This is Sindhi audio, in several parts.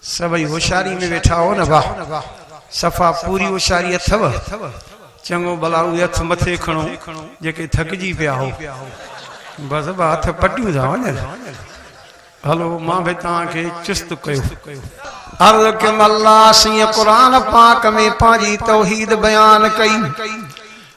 سڀئي هوشياري ۾ ويٺا هئو نه واه. صفا پوري هوشياري اٿئو. چڱو ڀلا اهي هٿ مٿي کڻو جيڪي ٿڪجي پيا هئو. بس ٻه هٿ پٽيون ٿا وڃن. هلو مان به توهان کي چست ڪيو. عرض ڪيم الله سيئن قرآن پاڪ ۾ پنهنجي توحيد بيان ڪئي.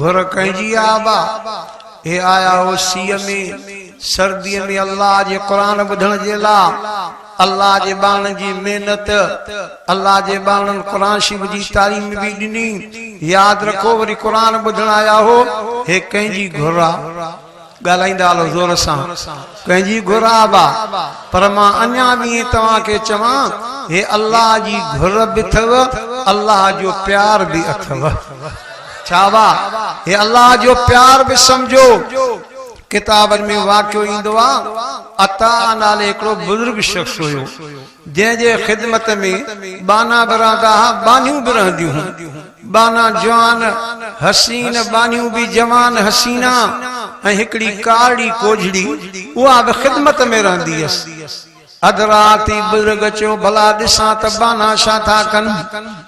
گهر ڪنهن جي آ ابا؟ هي آيا هو سيء ۾، سرديء ۾، الله جي قرآن ٻڌڻ جي لا. الله جي ٻانهن جي محنت. الله جي ٻانهن قرآن شريف جي تعليم به ڏني. ياد رکو وري قرآن ٻڌڻ آيا هو. هي ڪنهن جي گهر آ؟ ڳالهائيندا هلو زور سان ڪنهن جي گهر آبا پر مان اڃا به ائين توهان کي چوان هي الله جي گهر به اٿئو الله جو پيار به اٿئو ڇا وا هي الله جو پيار به سمجهو ڪتابن ۾ واقعو ايندو آ عطا نالي هڪڙو بزرگ شخص هيو جنهن جي خدمت ۾ ٻانها بران ڏاها ٻانهيون به رهنديون هون. ٻانها جوان، حسين، ٻانهيون به جوان، حسينا ۽ هڪڙي ڪارڙي ڪوجهڙي اها به خدمت ۾ رهندي هيس. اڌ رات ئي بزرگ چيو، ڀلا ڏسان ته ٻانها ڇا ٿا ڪن؟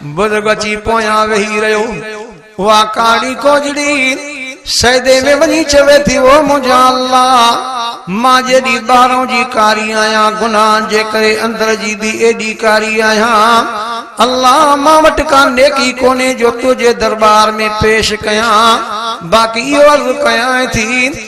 بزرگ اچي پويان ويهي رهيو. اها ڪاڙي ڪوجڙي سيدي ۾ وڃي چوي ٿي، او منهنجا الله! مان جيڏي ٻاهران جي ڪاري آهيان، گناهن جي ڪري اندر جي به ايڏي ڪاري آهيان. الله! مان وٽ ڪا نيڪي ڪونهي جو تنهنجي درٻار ۾ پيش ڪيان، باقي اهو عرض ڪيانء ٿي،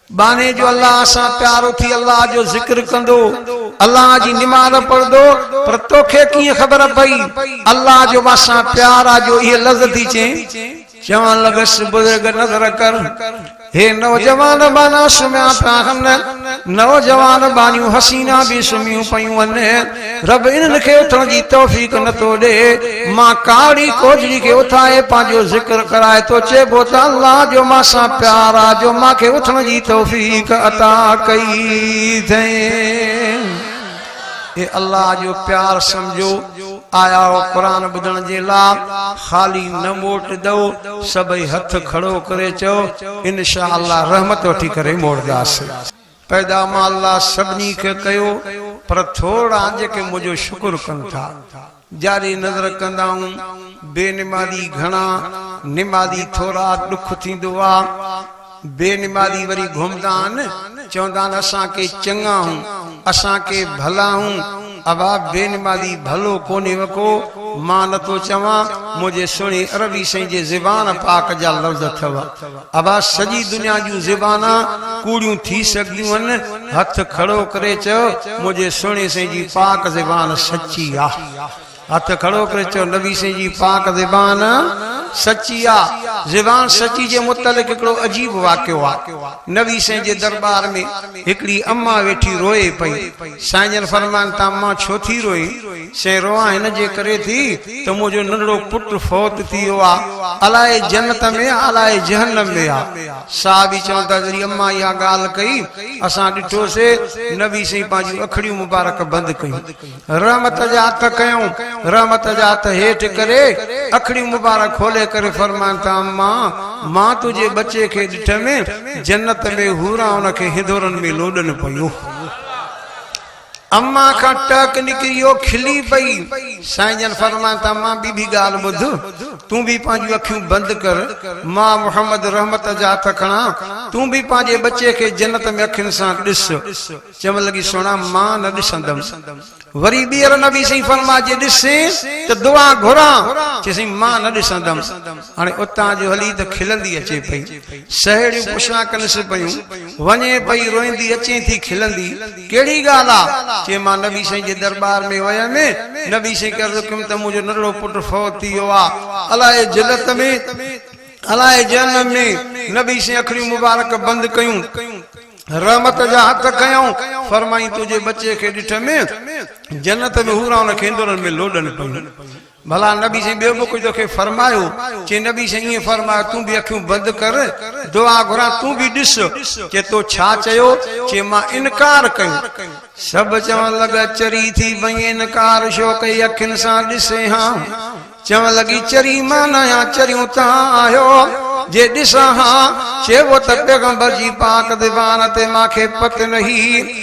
ٻانهي جو الله سان پيار اٿي الله جو ذڪر ڪندو الله جي نماز پڙهندو پر توکي ڪيئن خبر پئي الله جو مان سان پيار آ جو اهي لفظ ٿي چين. چوڻ لڳس بزرگ نظر ڪر هي نوجوان ٻانها سمهيا پيا هن نوجوان ٻانهيون حسينا به سمهيون پيون هن. رب انهن کي اٿڻ جي توفيق نه ٿو ڏئي. مان ڪاڙي ڪوجڙي کي اٿائي پنهنجو ذڪر ڪرائي ٿو چئبو ته الله جو مان سان پيار آ جو مان کي اٿڻ جي توفيق عطا ڪئي ٿئين. اي الله جو پيار سمجهو آيا آهو قرآن ٻڌڻ جي لا خالي نه موٽ دؤ سڀئي هٿ کڙو ڪري چئو انشاء الله رحمت وٺي ڪري موڙداسين. پيدا مان الله سڀني کي ڪيو پر ٿورڙا جيڪي منهنجو شڪر ڪن ٿا جاري نظر ڪندائون بي نمازي گهڻا نمازي ٿورا ڏک ٿيندو آ بي نمازي وري گهمدا آن چوندا آن اسان ڪي چڱا آهون اسان ڪي ڀلا آهون ابا بي نمازي ڀلو ڪونهي وڪو مان نٿو چوان منهنجي سهڻي عربي سائين جي زبان پاڪ جا لفظ اٿو ادا سڄي دنيا جون زبانا ڪوڙيون ٿي سگهيون هن هٿ کڙو ڪري چيو منهنجي سهڻي سائين جي پاڪ زبان سچي آ هٿ کڙو ڪري چيو نبي سائين جي پاڪ زبان سچي آ زبان سچي جي متعلق هڪڙو عجيب واقعو آ نبي سائين جي دربار ۾ هڪڙي اما ويٺي روئي پئي سائين جن فرماين ته اما ڇو ٿي روئين سين روئان هن جي ڪري ٿي ته منهنجو ننڍڙو پٽ فوت ٿي ويو آهي. الاء جنت ۾ آهي الاء جهنم ۾ آهي. صحابي چون ٿا جڏهن امان اها ڳالهه ڪئي اسان ڏٺو سي نبي سائين پنهنجيون اکڙيون مبارڪ بند ڪيون. رحمت جا هٿ ڪيائون. رحمت جا هٿ هيٺ ڪري اکڙيون مبارڪ کولي ڪري فرمائن ٿا امان مان تنهنجي ٻچي کي ڏٺم جنت ۾ حوران ان کي هندورن ۾ لوڏن پيون. اما کان ٽهڪ نڪري اهو کلي پئي. سائين جن فرمايائون ته اما ٻيبي ڳالهه ٻڌ، تون به پنهنجون اکيون بند ڪر، مان محمد رحمت جا هٿ کڻان، تون به پنهنجي ٻچي کي جنت ۾ اکين سان ڏس. چوڻ لڳي سهڻا مان نه ڏسندم. وري ٻيهر نبي سائين فرمايو جي ڏسين ته دعا گهران، چي سائين مان نه ڏسندم. هاڻي اتان جو هلي ته کلندي اچي پئي. سهيڙيون پڇا ڪنس پيون. وڃي پئي روئيندي اچين ٿي کلندي. ڪهڙي ڳالهه آ؟ چي مان نبي سائين جي درٻار ۾ ويم، نبي سائين کي عرض ڪيم ته منهنجو ننڍڙو پٽ فوت ٿي ويو آ، الاء جنت ۾، الاء جهنم ۾، نبي سائين اکڙيون مبارڪ بند ڪيون، رحمت جا هٿ کنيائون، فرمائين تنهنجي ٻچي کي ڏٺم، جنت ۾ حورائن کي اندرن ۾ لوڏن پيون. ڀلا نبي سائين ٻيو به ڪجهه توکي فرمايو؟ چي نبي سائين ائين فرمايو تون به اکيون بند ڪر دعا گهران تون به ڏس چي تو ڇا چيو؟ چي مان انڪار ڪيو. سڀ چوڻ لڳا چري ٿي پئين انڪار ڇو ڪئي اکين سان ڏسين ها چوڻ لڳي چري مان نه آهيان چريون تان آهيو جي ڏسان ها چئبو ته پيغمبر جي پاڪ ديوان تي مانکي پت نهي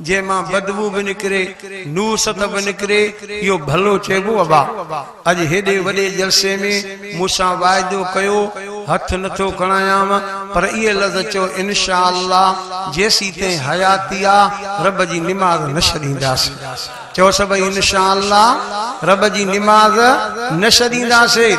جنهن مان بدبو به نڪري، نوست به نڪري، اهو ڀلو چئبو ابا! اڄ هيڏي وڏي جلسي ۾ مون سان واعدو ڪيو، هٿ نه ٿو کڻايانء، پر اهي لفظ چئو انشاء الله جيسيتائين حياتي آ، رب جي نماز نه ڇڏينداسين. چئو سڀئي انشاء الله رب جي نماز نه ڇڏينداسين.